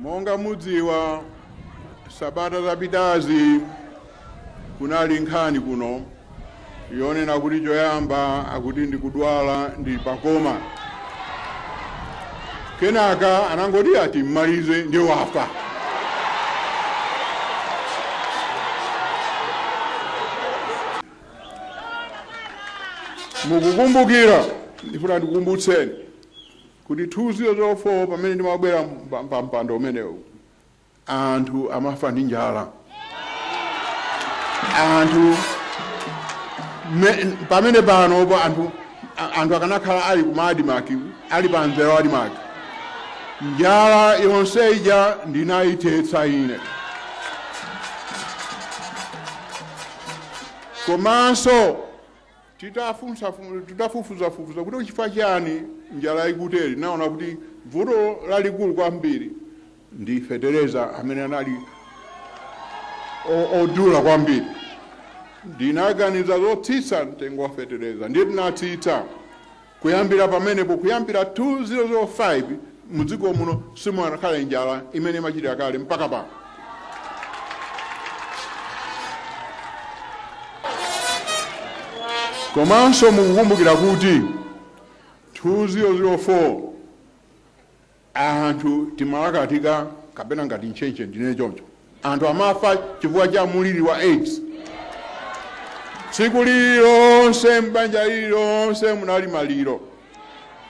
Monga mudziwa sabata zapitazi kunali nkhani kuno yonena kuti choyamba akuti ndikudwala ndi pakoma, kenaka anangoti a timmalize ndi wafa. Mukukumbukira, ndifuna ndikukumbutseni Kuti 2004 pamene ndimabwera pa mpando umenewu, anthu amafa ndi njala. Anthu me, pamene panopo anthu a- anthu akanakhala ali ku Admarc ali pa mzera wa Admarc, njala yonse ija ndinayithetsa ine. Komanso Titafunsa fun titafufuza fufuza kuti chifukwa chani njala ikutere tinaona kuti vuto lalikulu kwambiri ndi fetereza amene anali odula kwambiri. Ndinaganiza zotsitsa mtengo wa fetereza ndiye tinatsitsa. Kuyambira pamenepo, kuyambira 2005, mudziko muno simunakhale njala imene imachitika kale mpaka pano. Komanso mukukumbukira kuti 2004, Anthu timalakatika kapena ngati ntchentche ndinene choncho. Anthu amafa chifukwa cha muliri wa aids. Tsiku lililonse m'banja lililonse munali maliro.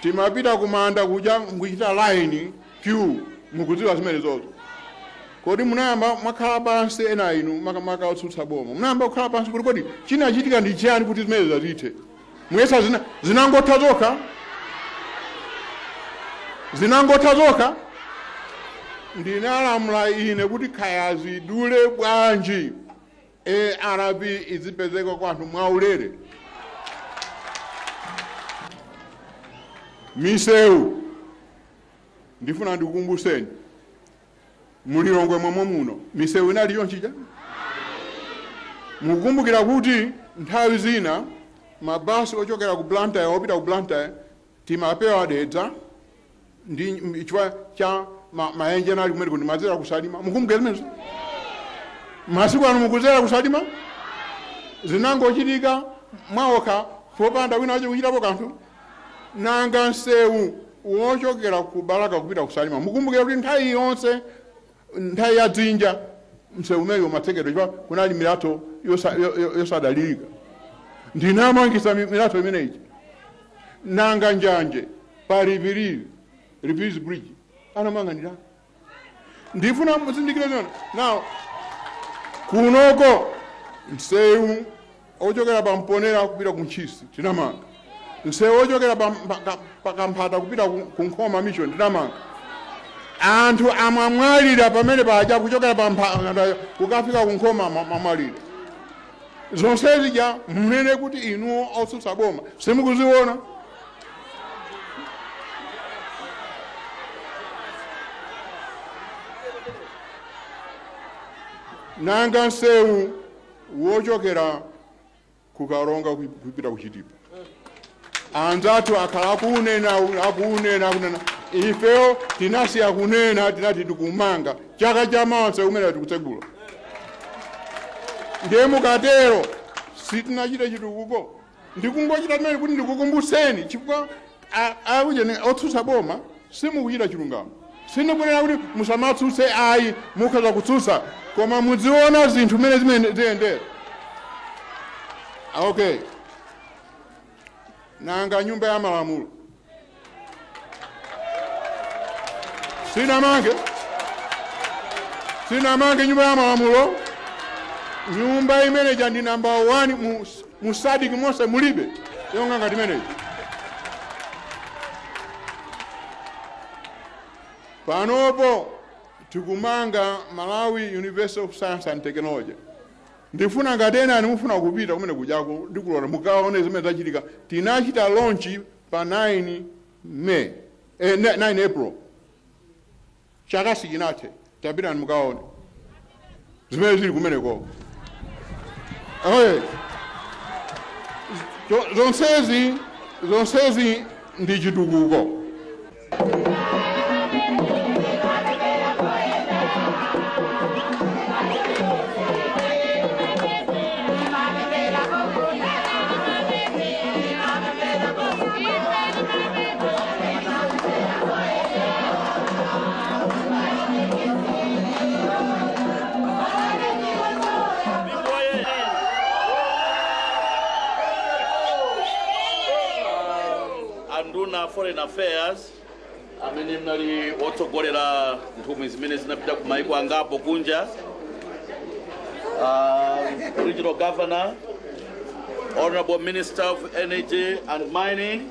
Timapita kumanda kuja nkuchita line, queue, mukudziwa zimenezozo. Kodi munayamba mwakhala pansi ena a inu makamaka otsutsa boma. Munayamba kukhala pansi kuti kodi chinachitika ndi chiyani kuti zimenezo zithe? muyesa zina, zinangotha zokha zinangotha zokha ndinalamula ine kuti kaya zidule bwanji arv izipezeka kwa anthu mwaulere misewu ndifuna ndikukumbutseni Mu Lilongwe momwemuno misewu inali chonchi ija? Mukukumbukira kuti nthawi zina ma bus ochokera ku Blantyre opita ku Blantyre timapewa Dedza ndi chifukwa cha ma, mayenje anali kumeneko timadzera ku Salima. Mukumbukira zimenezo? Masiku ano mukudzera ku Salima? Zinangochitika mwaokha popanda wina wache kuchitapo kanthu. Nanga nseu wochokera ku Balaka kupita ku Salima mukumbukira kuti nthawi yonse nthawi ya dzinja mseu umenewu umatsekedwa chifukwa kunali milatho yosa- yo- yo- yosadalirika ndinamangisa mi- milatho imeneyi nanga njanje pa Rivirivi Rivirivi bridge anamanga ndani ndifuna muzindikire zona naonso kunoko msewu ochokera pa mponera kupita ku ntchisi tinamanga msewu ochokera pa- pa- ka- pa kamphata kupita ku ku nkhoma mission tinamanga anthu amwamwalira pamene paja kuchokera pa kamphata kukafika ku nkhoma amwa- amwalira zonse zija munena kuti inuwo otsutsa boma simukuziona nanga nsewu wochokera ku karonga kupita ku chitipa anzathu akhala akunena akunena akunena ifeyo tinasiya kunena tinati tikumana chaka cha mawa msewu umene tikutsegula ndiye mukatero sitinachita chitukuko ndikungochita zimenezi kuti ndikukumbutseni chifukwa A, a ujeni otsutsa boma simukuchita chilungamo. Sindikunena kuti musamatsutse ayi, mukhoza kutsutsa koma mudziona zinthu mmene zimene ziyendera. Okay, nanga nyumba ya malamulo sinamange sinamange nyumba ya malamulo nyumba imene ija ndi namba 1 mu Mu Sadc monse mulibe yonga ngati imeneyi. Panopo tikumanga Malawi University of Science and Technology. Ndifuna ngati enanu mufuna kupita kumene kujako ndikulora mukaone zimene zachitika. Tinachita launch pa 9 May, eh, 9 April. Chaka sichinathe, tapitani mukaone zimene zili kumeneko. Oye, Zo- zonsezi zonsezi ndi chitukuko. anduna foreign affairs amene munali otsogolera nthumwi zimene zinapita ku mayiko angapo kunja uh, regional governor honorable minister of energy and mining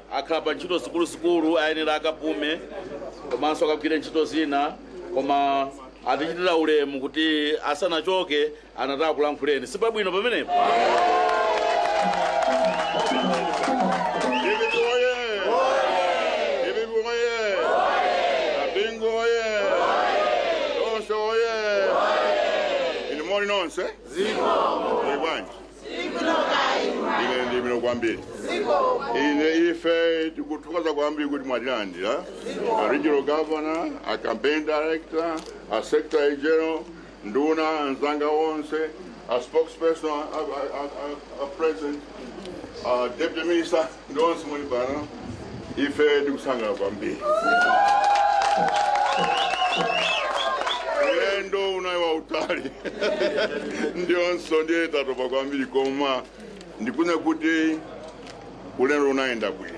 akhala pa ntchito zikuluzikulu ayenera akapume komanso akagwire ntchito zina koma atichitira ulemu kuti asanachoke anati akakulankhuleni si zabwino pamenepo Bingu oye! Bingu oye! Bingu oye! Nonse oye! Inu muli nonse? Muli bwanji? ine ndili bwino kwambiri ine ife tikuthokoza kwambiri kuti mwatilandira a regional governor a campaign director a secretary general nduna anzanga onse a spokesperson a, a, a, a, a president a deputy minister nonse muli pano ife tikusangalala kwambiri ulendo unali wautali ndiponso ndiye tatopa kwambiri koma ndikunena kuti ulendo unayenda bwino